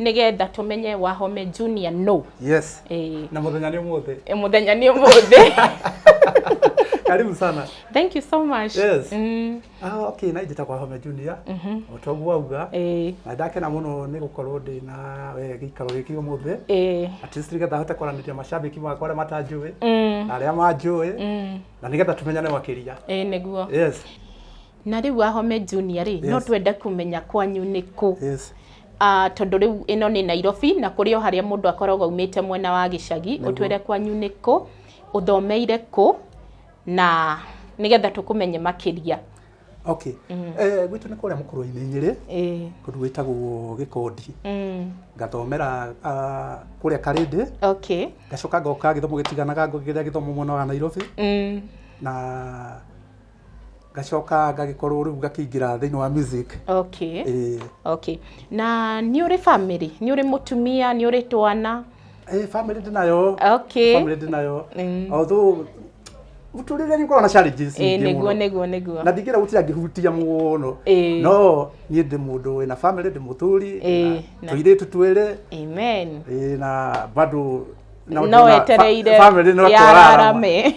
nĩgetha tũmenye wahome junior no yes eh, na muthenya ni umuthi eh, mũthenya nĩ ũmũthĩ karibu sana thank you so much Yes. mm, ah okay na njitagwa home junior otogu wauga eh, na ndakena muno ni gukorwo ndi na we gikaro giki umuthi eh, at least nigetha hote kwaranĩria mashabiki makwa arĩa matanjũĩ mm, na arĩa manjũĩ mm, na nigetha tũmenyane makĩria eh, nĩguo yes Na rĩu Wahome Junior rĩ, no twende kũmenya kwanyu nĩ kũ? Yes. Ah, tondũ rĩu ĩno nĩ Nairobi na kũrĩ o harĩa mũndũ akoragwo aumĩte mwena wa gĩcagi, ũtwĩre kwanyu nĩ kũ, ũthomeire kũ na nĩgetha tũkũmenye makĩria. Okay. Eh, gwitũ nĩ kũrĩa mũkũrũ-inĩ Nyĩrĩ, Ĩĩ. kũndũ gwĩtagwo Gĩkondi. Mm. Ngathomera ah, kũrĩa Karĩndĩ, Okay. ngacoka ngoka gĩthomo gĩtiganaga ngogera gĩthomo mwena wa Nairobi Mm. na ngacoka ngagĩkorwo rĩu ngakĩingĩra thĩinĩ wa music okay eh okay na nĩ ũrĩ family nĩ ũrĩ mũtumia nĩ ũrĩ twana eh family ndĩnayo okay family ndĩnayo Mm. although mũtũrĩre nĩ ũkoragwo na challenges eh nyingĩ nĩguo mũno. nĩguo nĩguo na ndingĩra gũtira ngĩhutia mũno Eh. no niĩ ndĩ mũndũ wĩna family ndĩ mũthuri Eh, na- tũirĩtu twĩrĩ amen eh, na bado No no tũrona wetereire fa- family no ya twararama. ararame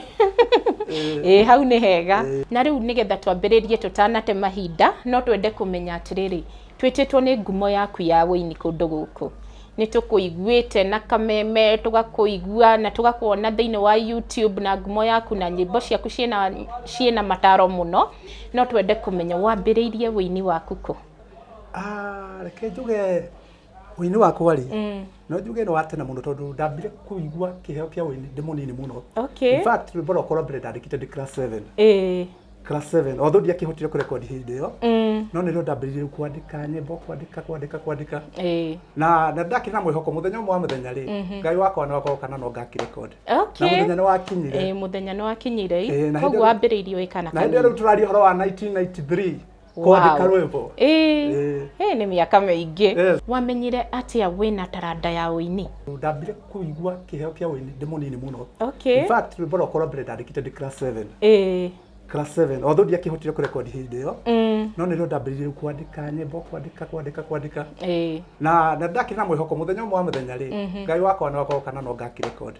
ĩ hau nĩ hega na rĩu nĩgetha twambĩrĩrie tũtanate mahinda no twende kũmenya atĩrĩrĩ twĩtĩtwo nĩ ngumo yaku ya wĩini kũndũ gũkũ nĩ tũkũiguĩte na kameme tũgakũigua na tũgakuona thĩinĩ wa youtube na ngumo yaku na nyĩmbo ciaku ciĩna ciĩna mataro mũno no twende kũmenya wambĩrĩirie wĩini waku kũ Ah, reke njuge Ũini wakwa rĩ, Mm. no njuge nĩ wa tene mũno tondũ ndambire kũigua kĩheo kĩa ũini ndĩ mũnini mũno. Okay. In fact, rwĩmbo rwakwa rwa mbere ndandĩkĩte ndĩ class 7. Eh. Class 7. Although ndiakĩhotire kũrekondi hĩndĩ ĩyo, Mm. no nĩrĩo ndambĩrĩirie kwandĩka nyĩmbo, kwandĩka, kwandĩka, kwandĩka. Eh. na na ndakĩrĩ na mwĩhoko mũthenya ũmwe wa mũthenya rĩ ngai wakwa nĩ wakorwo kana no ngakĩrekondi na Okay. mũthenya nĩ wakinyire Eh, mũthenya nĩ wakinyire Eh, na hĩndĩ koguo ĩyo- wambĩrĩirie wĩ kana na hĩndĩ ĩyo rĩu kanini. tũraria ũhoro wa 1993 kwandĩka Wow. rwĩmbo Ĩĩ. Ĩĩ. Ĩĩ, nĩ mĩaka mĩingĩ Yes. wamenyire atĩa wĩna taranda ya ũini ndambire kũigua kĩheo kĩa ũini ndĩ mũnini mũno okay. In fact, rwĩmbo rwakwa rwa mbere ndandĩkĩte ndĩ class 7 Ĩĩ. class 7 although ndiakĩhotire kũrekondi hĩndĩ ĩyo Mm. no nĩrĩo ndambĩrĩirie kwandĩka nyĩmbo kwandĩka kwandĩka kwandĩka Ĩĩ. na na ndakĩrĩ na mwĩhoko mũthenya ũmwe wa mũthenya rĩ ngai wakwa nĩ wagoka na no ngakĩrekondi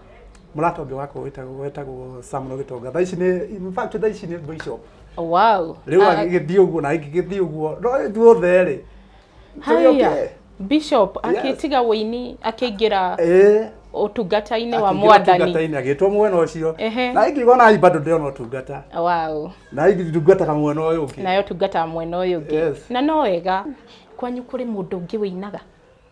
mũrata ũngĩ wakwa wĩtagwo wĩtagwo Samuel Gitonga thaa ici nĩ in fact thaa ici nĩ bishop wow rĩu Ah, agĩgĩthiĩ ũguo na ingĩgĩthiĩ ũguo no ithuothe rĩ haya tũgĩũke. bishop Yes. akĩtiga wĩini akĩingĩra Ĩĩ. ũtungata-inĩ wa Akĩingĩra mwathani ũtungata-inĩ, agĩtwo mwena ũcio Ehe. na ingĩgwo na bado ndĩona ũtungata wow na ingĩtungataga mwena ũyũ ũngĩ nayo tungata mwena ũyũ ũngĩ Yes. na no wega kwanyu kũrĩ mũndũ ũngĩ wĩinaga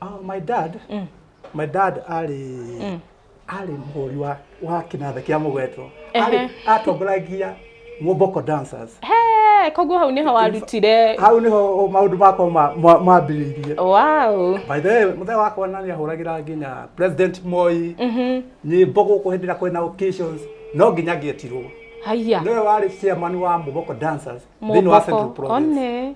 Oh, my dad mm. my dad arĩ mm. arĩ mũhũri wa wa kinatha kia mugweto arĩ atongoragia Moboko dancers he koguo hau niho warutire hau niho maundu makwa mambiriirie wow by the way muthe wakwa na ni ahuragira nginya president Moi mhm nyimbo guku hindi na kwina occasions no nginya ngietirwo haya niwe wari chairman wa Moboko dancers thini wa Central Province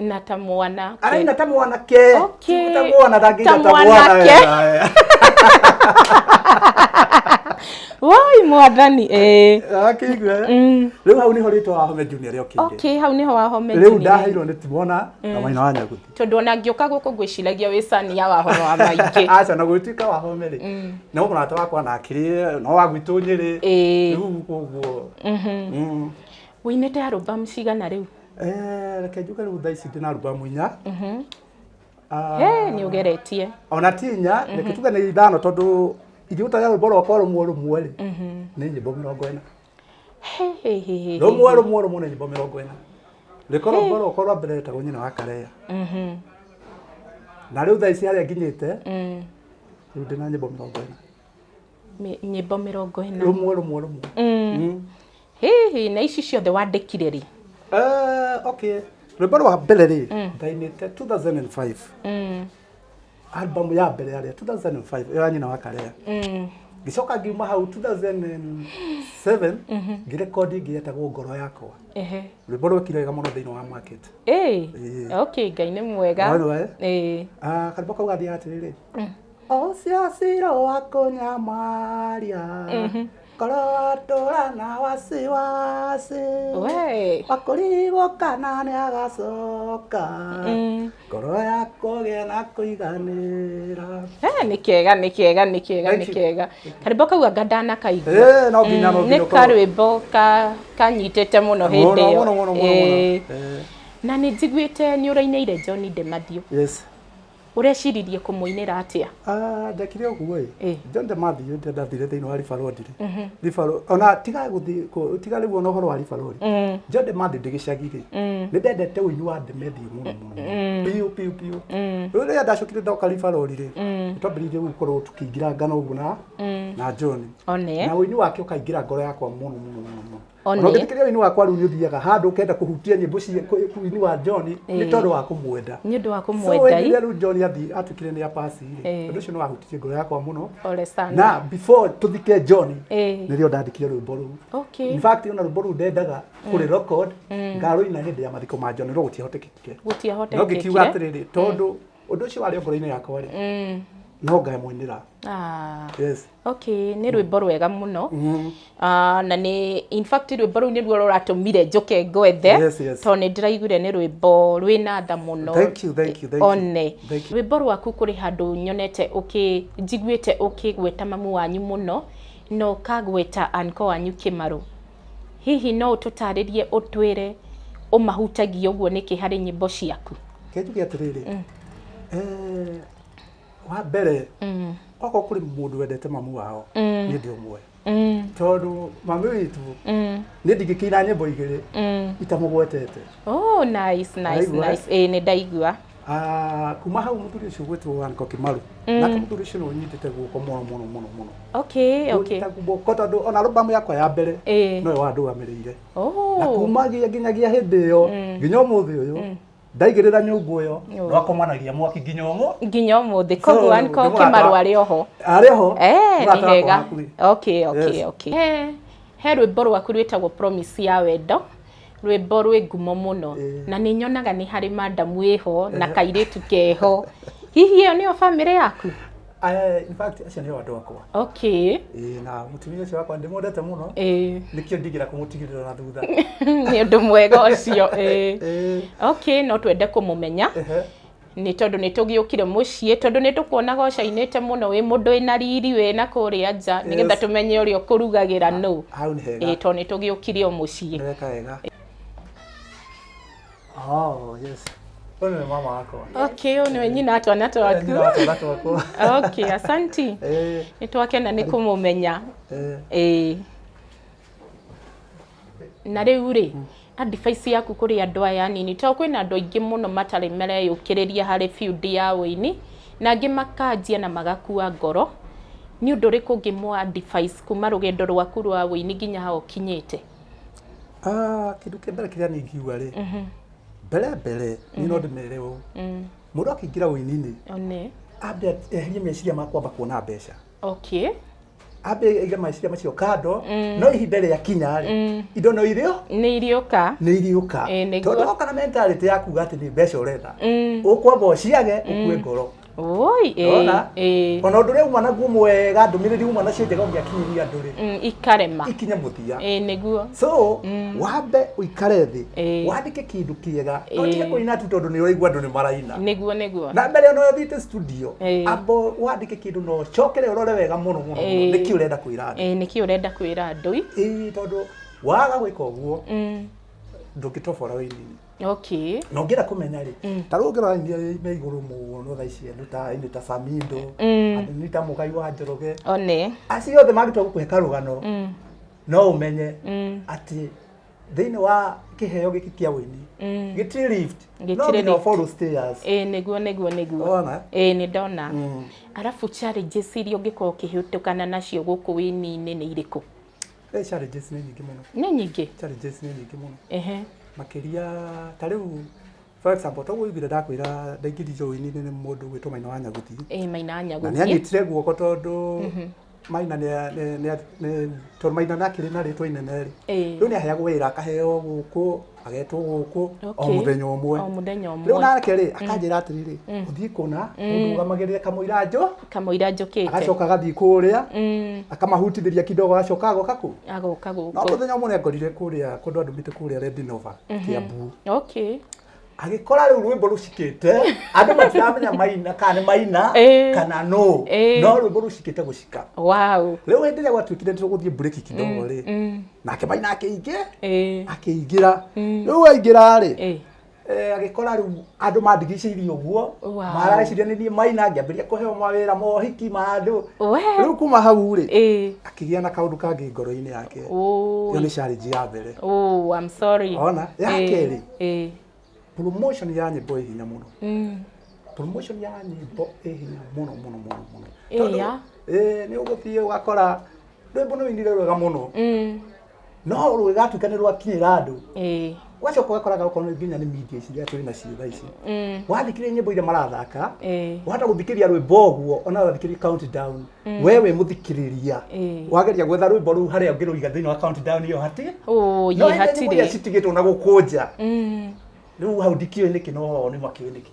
na ta mwanake araina ta mwanake Okay. ta mwana Ta ndangĩita ta mwana mwanake. wega. woi mwathani eh. akĩigua Mm. rĩu hau nĩho rĩtwa wahome junior rĩokĩire okay hau niho wahome rĩu junior. ndaheirwo nĩ timona na maina wa nyaguti tondå ona ngä å ka gå kå ngwä ciragia wä cania wa horo wa maingä aca na gwĩtuĩka wahome rĩ na å mũrata wakwa na akĩrĩ no wa gwitũ nyĩrĩ Ĩĩ. rĩu koguo wä inä te arå bamu cigana rä u Eh, reke njuge rĩu thaa ici ndĩna albamu inya Ah, Hey, nĩ ũgeretie ona ti inya reke tuge nĩ ithano tondũ ingĩruta rĩa rwĩmbo rwakwa rũmwe rũmwe rĩ nĩ nyĩmbo mĩrongo ĩna Hey, hey, hey, hey. rũmwe rũmwe rũmwe nĩ nyĩmbo mĩrongo ĩna rĩko rwĩmbo rwakwa rwa mbere rĩtagwo nyina wa kareya Mhm. na rĩu thaa ici harĩa nginyĩte Mm. rĩu ndĩna nyĩmbo mĩrongo ĩna Mi- nyĩmbo mĩrongo ĩna rũmwe rũmwe rũmwe Mm. Mm. Hihi na ici ciothe wandĩkire rĩ? Eh, okay rwĩmbo rwa mbere rĩ mm. ndainĩte 2005 mm. album ya mbere yarĩa 2005 ĩyo ya nyina wa karea mm. ngicoka ngiuma hau 2007 mm-hmm. ngirekondi ĩngĩ yetagwo ngoro yakwa rwĩmbo rwekire wega mũno thĩinĩ wa market okay ngai nĩ mwega ah, karimbo kau gathiaga atĩrĩrĩ mm. ũcio ciro wa kũnyamaria mm-hmm. Koroatora na wasiwasi we wakũrigwo kana nĩ agacoka Mm. ngoro ya kũgĩa na kũiganĩra Eh, nĩ kega nĩ kega nĩ kega Thank nĩ you. kega karĩmbo kau anga ndanakaigua Eh, no nginya, no Mm, nginya nĩ ũkorwo- karwĩmbo ka- kanyitĩte mũno hĩndĩ Mũno, ĩyo mũno, mũno, mũno, Eh, mũno. Eh, na nĩ njiguĩte nĩ ũrainĩire john de mathiũ yes Ũreciririe kũmũinĩra atĩa? Ah, ndekire ũguo ĩ Ĩ. jonde mathiĩ nde ndathire thĩinĩ wa ribarodi rĩ Ribaro- ona tiga gũthiĩ kũ- tiga rĩu ona ũhoro wa ribarodi jonde mathiĩ ndĩ gĩcagi rĩ nĩ ndendete ũini wa ndemethi mũno mũno piũ piũ piũ rĩu rĩrĩa ndacokire ndoka ribarodi rĩ nĩ twambĩrĩirie gũkorwo tũkĩingĩra ngano ũguo na na john One. na ũini wake ũkaingĩra ngoro yakwa mũno mũno mũno mũno Ona One. ũngĩthikĩrĩria ũini wakwa rĩu nĩ ũthiaga handũ ũkenda kũhutia nyĩmbo cia kũ- ũini wa John nĩ Ĩĩ. tondũ wa kũmwenda nĩ ũndũ wa So kũmwenda wĩngiria rĩu John athi atuĩkire nĩ apasi Ĩĩ. ũndũ ũcio nĩ wahutirie ngoro yakwa mũno ole sana na before tũthike John Ĩĩ. nĩrĩo ndandĩkire rwĩmbo rũu okay in fact ona rwĩmbo rũu ndendaga kũrĩ record ngarũina hĩndĩ ya mathiko ma John no gũtiahotekekire no ngĩkiuga gũtiahotekekire atĩrĩrĩ tondũ ũndũ ũcio warĩ o ngoro-inĩ yakwa rĩ no ngamũinĩra ah yes Okay, nĩ rwĩmbo rwega mũno mm. uh, na nĩ in fact rwĩmbo rũu nĩruo rũratũmire njũke ngwethe yes, yes. tondũ nĩ ndĩraiguire nĩ rwĩmbo rwĩna tha mũno one rwĩmbo rwaku kũrĩ handũ nyonete njiguĩte ũkĩgweta mamu wanyu mũno na ũkagweta anko wanyu kĩmarũ hihi no ũtũtarĩrie ũtwĩre ũmahutagia ũguo nĩkĩ harĩ nyĩmbo ciaku kĩnjuge atĩrĩrĩ mm. eh, wa mbere mm. okorwo kũrĩ mũndũ wendete mamu wao mm. nĩ ndĩ ũmwe mm. tondũ mami witũ mm. nĩ ndingĩkĩina nyĩmbo igĩrĩ mm. itamũgwetete oh, nice, nice, nice. Ĩĩ, nĩ ndaigua Ah, kuma hau muthuri ucio gwitwo wanko kimaru mm. nake muthuri ucio nunyitite guoko muno muno muno muno okay okay guoko tondu ona albamu yakwa ya mbere eh. no yo andugamirire oh. na kumagia nginyagia hindi iyo mm. nginya umuthi uyu mm. ndaigĩrĩra nyũngũ ĩyo Nyũngũ. no akomanagia mwaki nginya ũmũ nginya ũmũthĩ So, koguo nĩ anko mũrata. kĩmaru arĩ oho arĩ ho Eh, nĩ mũrata wakwa hega hakuhĩ. okay okay Yes. okay he, he rwĩmbo rwaku rwĩtagwo promise ya wendo rwĩmbo rwĩ ngumo mũno Eh. na nĩ nyonaga nĩ harĩ mandamu ĩho na kairĩtu keho hihi ĩyo nĩyo bamĩrĩ yaku Eh, in fact acio nĩo andũ akwa okay Ĩĩ, na mũtumia ũcio wakwa ndĩmwendete mũno ĩĩ nĩkĩo ndigĩra kũmũtigĩrĩra na thutha nĩ ũndũ mwega ũcio ĩĩ Ĩĩ, okay no twende kũmũmenya ehe. nĩ tondũ nĩ tũgĩũkire mũciĩ tondũ nĩ tũkuonaga ũcainĩte mũno wĩ mũndũ wĩna riri wĩna kũrĩa nja nĩgetha Yes. tũmenye ũrĩa ũkũrugagĩra nũ hau nĩ hega ĩĩ tondũ nĩ tũgĩũkire o mũciĩ nĩweka wega Oh, yes. Huyu ni mama wako. Okay, huyu ni wenyi na atwana Ni twaku. na watu watu wako. Okay, asanti. Eh, Nitwake na nikumumenya. eh. Eh. Na rĩu rĩ advice yaku kũrĩ andũ aya anini tondũ kwĩna andũ aingĩ mũno matarĩ mareyũkĩrĩria harĩ field ya ũini na angĩ makanjia na magakua ngoro nĩ ũndũ ũrĩkũ ũngĩmũ advice kuma rũgendo rwaku rwa ũini nginya ha ũkinyĩte Ah, kĩndũ kĩa mbere kĩrĩa niĩ ingiuga rĩ mbere mbere niĩ no ndĩmere ũũ mũndũ akĩingĩra ũini-inĩ one ambe eherie meciria ma kwamba kuona mbeca okay ambe aige meciria macio kando no ihinda rĩa kinya rĩ indo no irĩo nĩ iriũka nĩ iriũka Ĩĩ, nĩguo. tondũ woka na mentality ya kuga atĩ nĩ mbeca ũretha Mm. ũkwamba ũciage ũkue ngoro Oi, eh, Ndona? eh, ona undu ria uma naguo mwega ndumiriri uma nacio njega ungiakinyiria andu ri mm, ikarema ikinye muthia Eh, nĩguo so wambe uikare thi Eh. wandike kindu kiega Eh. no tige kuina tu tondu ni uraigua andu ni maraina nĩguo nĩguo na mbere ona thite studio Eh. ambo wandike kindu no cokere urore wega muno muno Eh. niki urenda kwira andu Eh, nĩkĩ ũrenda kwĩra andũ i ii tondu waga gwika uguo Mm, ndungitobora wini okay na ũngĩenda kũmenya rĩ Mm. ta rĩu ũngĩrora nĩ me igũrũ mũno tha ici andũ ta nĩ ta samindo Mm. andũ nĩ ta mũgai wa njoroge one acio othe mangĩtua gũkũhe karũgano mm. no ũmenye Mm. atĩ thĩinĩ wa kĩheo gĩkĩ kĩa wĩini Mm. gĩtirĩ lift Gĩtirĩ no nginya lift. follow stairs ĩĩ nĩguo nĩguo nĩguo Ona. ĩĩ nĩ ndona Mm. arabu challenges iria ũngĩkorwo ũkĩhĩtũkana nacio gũkũ wĩni-inĩ nĩ irĩkũ Eh, challenges nĩ nyingĩ mũno nĩ nyingĩ challenges nĩ nyingĩ mũno ehe makĩria ta rĩu for example toguo iguire ndakwĩra ndaingĩri joini nĩ mũndũ gwĩtwo maina wa nyaguti eh maina na nĩ nyaguthie anyitire guoko tondũ maina nĩ a- nĩ- nĩ a- nĩ- tondũ maina nĩ akĩrĩ na rĩtwa inene rĩ eh rĩu nĩ aheagwo wĩra akaheo gũkũ agetwo gũkũ o Okay. mũthenya ũmwe O mũthenya ũmwe. rĩu nake rĩ akanjĩra atĩrĩrĩ ũthiĩ kũna ũndũgamagĩrĩre kamũira njũ kamũira njũkĩte agacoka agathiĩ kũrĩa Mm, akamahutithĩria kidogo agacoka agoka kũ agoka no gũkũ mũthenya ũmwe nĩangorire kũrĩa kũndũ andũ mĩtĩ kũrĩa redinova kĩambu okay agĩkora rĩu rwĩmbo rũcikĩte andũ matiramenya maina kana nĩ maina Eh. kana no Eh. no rwĩmbo rũcikĩte gũcika wow rĩu hĩndĩ ĩrĩa gwatuĩkire nĩ tũgũthiĩ mburĩki kidogo rĩ nake maina akĩingĩ Eh. akĩingĩra Mm. rĩu aingĩra rĩ Eh. eh, agĩkora rĩu andũ mandigicĩirie ũguo Wow. marareciria nĩ niĩ maina ngĩambĩria kũheo mawĩra mohiki ma andũ We. rĩu kuma hau rĩ Eh. akĩgĩa na kaũndũ kangĩ ngoro-inĩ yake Oh. ĩyo nĩ challenge ya mbere Oh, I'm sorry. Ona, ya Eh, kerĩ. Eh. promotion ya nyĩmbo ĩ hinya mũno Mm. promotion ya nyĩmbo ĩ hinya mũno mũno mũno mũno Ĩya. Tondũ, eh, nĩ ũgũthiĩ ũgakora rwĩmbo nĩ rũinire rwega mũno Mm. no rũgĩgatuĩka nĩ rwakinyĩra andũ Ĩĩ. wacoka ũgakoraga okorwo nĩ nginya nĩ media ici iria tũrĩ nacio thaa ici Mm. wathikĩrĩria nyĩmbo iria marathaka Ĩĩ. wahota gũthikĩrĩria rwĩmbo ũguo ona wathikĩrĩria countdown we wĩ mũthikĩrĩria Ĩĩ. wageria gwetha rwĩmbo rũu harĩa ũngĩrũiga thĩinĩ wa countdown ĩyo hatirĩ Ũũ, no yĩ hĩndĩ nyĩmbo iria hatirĩ. citigĩtwo na gũkũ nja Mm. rĩu hau ndikĩũĩ nĩkĩ no nĩ makĩũĩ nĩkĩ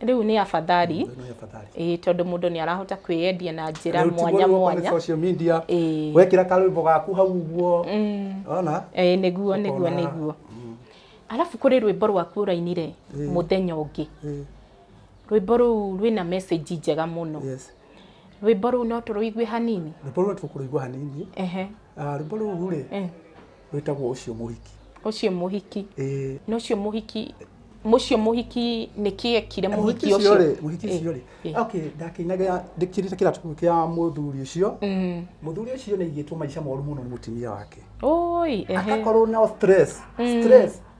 Rĩu nĩ afadhali Ĩno nĩ afadhali. ĩĩ tondũ mũndũ nĩ arahota kwĩyendia na njĩra Rĩu ti mwanya gũkorwo kũrĩ mwanya social media Ĩĩ. wekĩra karwĩmbo gaku hau ũguo ona Ĩĩ, nĩguo nĩguo Ũkona- nĩguo arabu kũrĩ rwĩmbo rwaku ũrainire mũthenya ũngĩ Ĩĩ, rwĩmbo rũu rwĩna message njega mũno yes rwĩmbo rũu no tũrũigue hanini rwĩmbo rũu tũkũrũigua hanini Ehe. Ah, rwĩmbo rũu rĩ Eh. wĩtagwo ũcio mũhiki ũcio mũhiki Ĩĩ. na ũcio mũhiki mũcio mũhiki nĩ kĩekire mũhiki mũhiki ũcio ũcio rĩ mũhiki Ĩĩ, ũcio rĩ ĩĩ. okay ndakĩinaga ndĩkĩrĩte kĩratũ kĩu kĩa mũthuri ũcio Mm. mũthuri ũcio nĩ aigĩtwo maica moru mũno nĩ mũtumia wake Oi, ehe. agakorwo na stress stress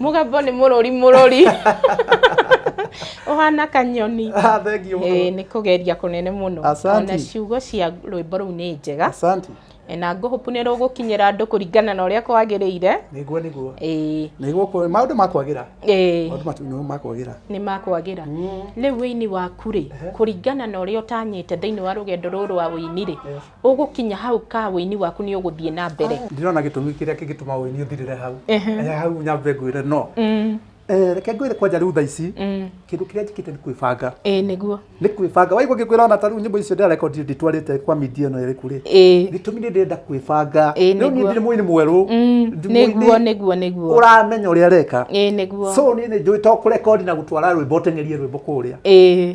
Mũgambo nĩ mũrũri mũrũri. Ũhana kanyoni. Ah, thank you. Ĩĩ nĩ kũgeria kũnene mũno. Asante. Ona ciugo cia rwĩmbo rũu nĩ njega. Asante. Ĩĩ, Na ngũhũpu nĩ rũgũkinyĩra andũ kũringana na ũrĩa kwagĩrĩire. Nĩguo nĩguo. Ĩĩ. Nĩguo kwa- maũndũ makwagĩra. Ĩĩ. Maũndũ matu- nĩguo makwagĩra. nĩ makwagĩra rĩu wĩini waku rĩ kũringana na ũrĩa ũtanyĩte thĩinĩ wa rũgendo rũrũ rwa wĩini rĩ Ũgũkinya hau ka ũini waku nĩ ũgũthiĩ na mbere. Ndirona gĩtũmi kĩrĩa kĩngĩtũma ũini ũthirĩre hau. Ehe hau nyambe ngwĩre no. Reke ngwĩre kwanja rĩu thaa ici kĩndũ kĩrĩa njĩkĩte nĩ kwĩbanga. Ĩĩ nĩguo. Nĩ kwĩbanga. Waigua ngĩkwĩra ona ta rĩu nyĩmbo icio ndĩrarekondi ndĩtwarĩte kwa media ĩno ĩrĩkũ rĩ, gĩtũmi nĩ ndĩrenda kwĩbanga. Rĩu niĩ ndirĩ mũini mwerũ. Nĩguo nĩguo nĩguo. Ũramenya ũrĩa areka. Ĩĩ nĩguo. So niĩ nĩ njũĩ to kũrekondi na gũtwara rwĩmbo ũteng'erie rwĩmbo kũrĩa. Ĩĩ.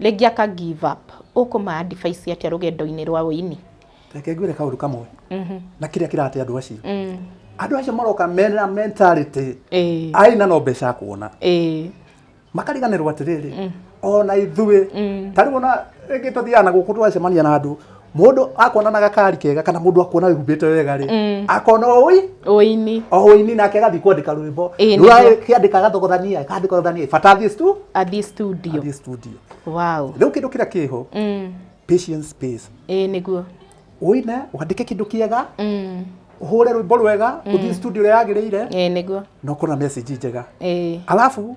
Rĩngĩ aka give up. Ũkũma advice atĩa rũgendo-inĩ rwa ũini? Reke ngwĩre kaũndũ kamwe na kĩrĩa kĩrate andũ acio. Andũ acio maroka mena mentality Ĩĩ. ai na no mbeca akuona. Ĩĩ. Makariganĩrwo atĩrĩrĩ, ona ithuĩ ta rĩu ona rĩngĩ tũthiaga na gũkũ tũgacemania na andũ Mũndũ akuona na gakari kega kana mũndũ akuona wĩhumbĩte wega rĩ, Mm. akona ũi ũini oini nake agathiĩ kwandĩka rwĩmbo Ĩĩ, nĩguo. rũrakĩandĩka gathogothania kandĩkothania bata athiĩ stu athiĩ studio athiĩ studio wow rĩu kĩndũ kĩrĩa kĩho mm. patience space ĩĩ nĩguo ũine wandĩke kĩndũ kĩega mm. ũhũre rwĩmbo rwega ũthiĩ studio ĩrĩa yagĩrĩire ĩĩ nĩguo na ũkorwo na message njega ĩĩ alafu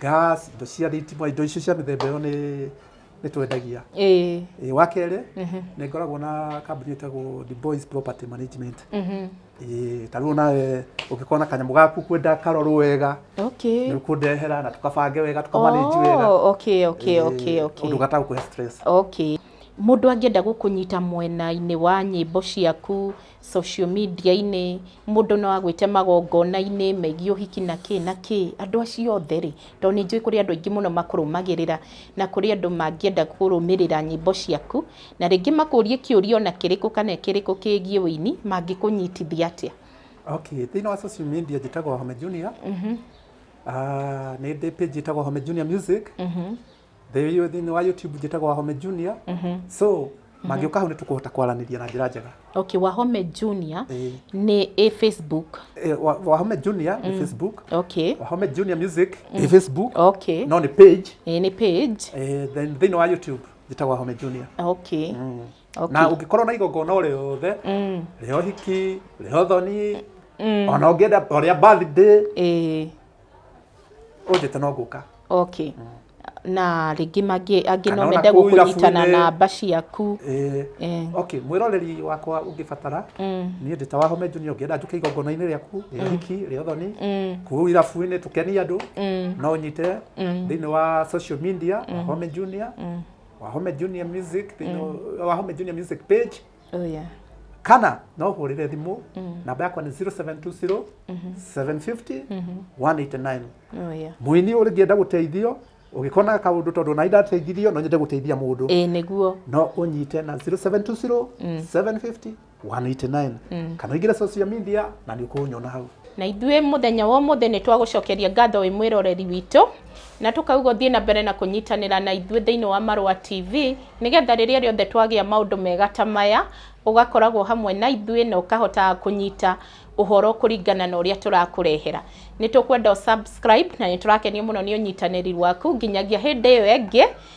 gas indo cia thitima indo icio cia mĩthemba ĩyo nĩ nĩ twendagia ĩĩ Ĩĩ, wa kerĩ nĩ ngoragwo na kambuni ĩtagwo the boys property management mhm. Ĩĩ, ta rĩu nawe ũngĩkorwo na kanyamũ gaku kwenda karorwo wega okay nĩ ũkũndehera na tũkabange wega tũkamanĩnji wega Oh, okay okay okay Ĩĩ, okay ũndũ gatagũkũhe stress okay mũndũ angĩenda gũkũnyita mwena-inĩ wa nyĩmbo ciaku social media -inĩ, mũndũ no agwĩte magongona-inĩ megiĩ ũhiki na kĩ na kĩ, andũ acio othe rĩ, tondũ nĩ njũĩ kũrĩ andũ aingĩ mũno makũrũmagĩrĩra, na kũrĩ andũ mangĩenda kũrũmĩrĩra nyĩmbo ciaku, na rĩngĩ makũrie kĩũria ona kĩrĩkũ kana kĩrĩkũ kĩgiĩ ũini, mangĩkũnyitithia atĩa? Okay, thĩinĩ wa social media njĩtagwo Home Junior, nĩ ndĩ page ĩtagwo Home Junior Music, thĩinĩ thĩinĩ wa youtube njĩtagwo wahome junior so mangĩũka hau nĩ tũkũhota kwaranĩria na njĩra njega okay wahome junior Ĩĩ. nĩ ĩ facebook Eh, wa- wahome junior nĩ facebook okay wahome junior music nĩ facebook okay no nĩ page Ĩĩ, nĩ page eh, then thĩinĩ wa youtube njĩtagwo wahome junior okay na okay ũngĩkorwo na igongona o rĩothe Mm. rĩa ũhiki rĩa ũthoni ona ũngĩenda o rĩa birthday Ĩĩ. ũnjĩte no ngũka okay na rĩngĩ mangĩ angĩ Kana no ona mende kũu gũkũnyitana irabu-inĩ. namba ciaku Eh, Eh. okay mwĩroreri wakwa ũngĩbatara Mm. niĩ ndĩ ta wahome junior ũngĩenda njũke igongona-inĩ rĩaku rĩa hiki rĩa ũthoni Mm. kũu irabu-inĩ tũkenie andũ Mm. no ũnyite Mm. thĩinĩ wa social media wahome junior wahome junior music thĩinĩ wa- wahome junior music page Oh yeah. kana no hurire thimu namba yakwa ni 0720 750 189 Oh yeah. muini ũngĩenda gũteithio ũgĩkona kaũndũ tondũ na indateithirio no nyende gũteithia mũndũ Ĩĩ nĩguo. no ũnyite na 0720 750 189 kana ũingĩre social media na nĩ ũkũnyona hau Na ithuĩ mũthenya wa ũmũthĩ nĩ twagũcokeria ngatho wĩ mwĩroreri witũ na tũkauga ũthiĩ na mbere na kũnyitanĩra na ithuĩ thĩinĩ wa Marũa TV nĩgetha rĩrĩa rĩothe twagĩa maũndũ mega ta maya ũgakoragwo hamwe na ithuĩ na ũkahotaga kũnyita ũhoro kũringana na ũrĩa tũrakũrehera. Nĩ tũkwenda ũ subscribe na nĩ tũrakenio mũno nĩ ũnyitanĩri waku nginyagia hĩndĩ ĩyo ĩngĩ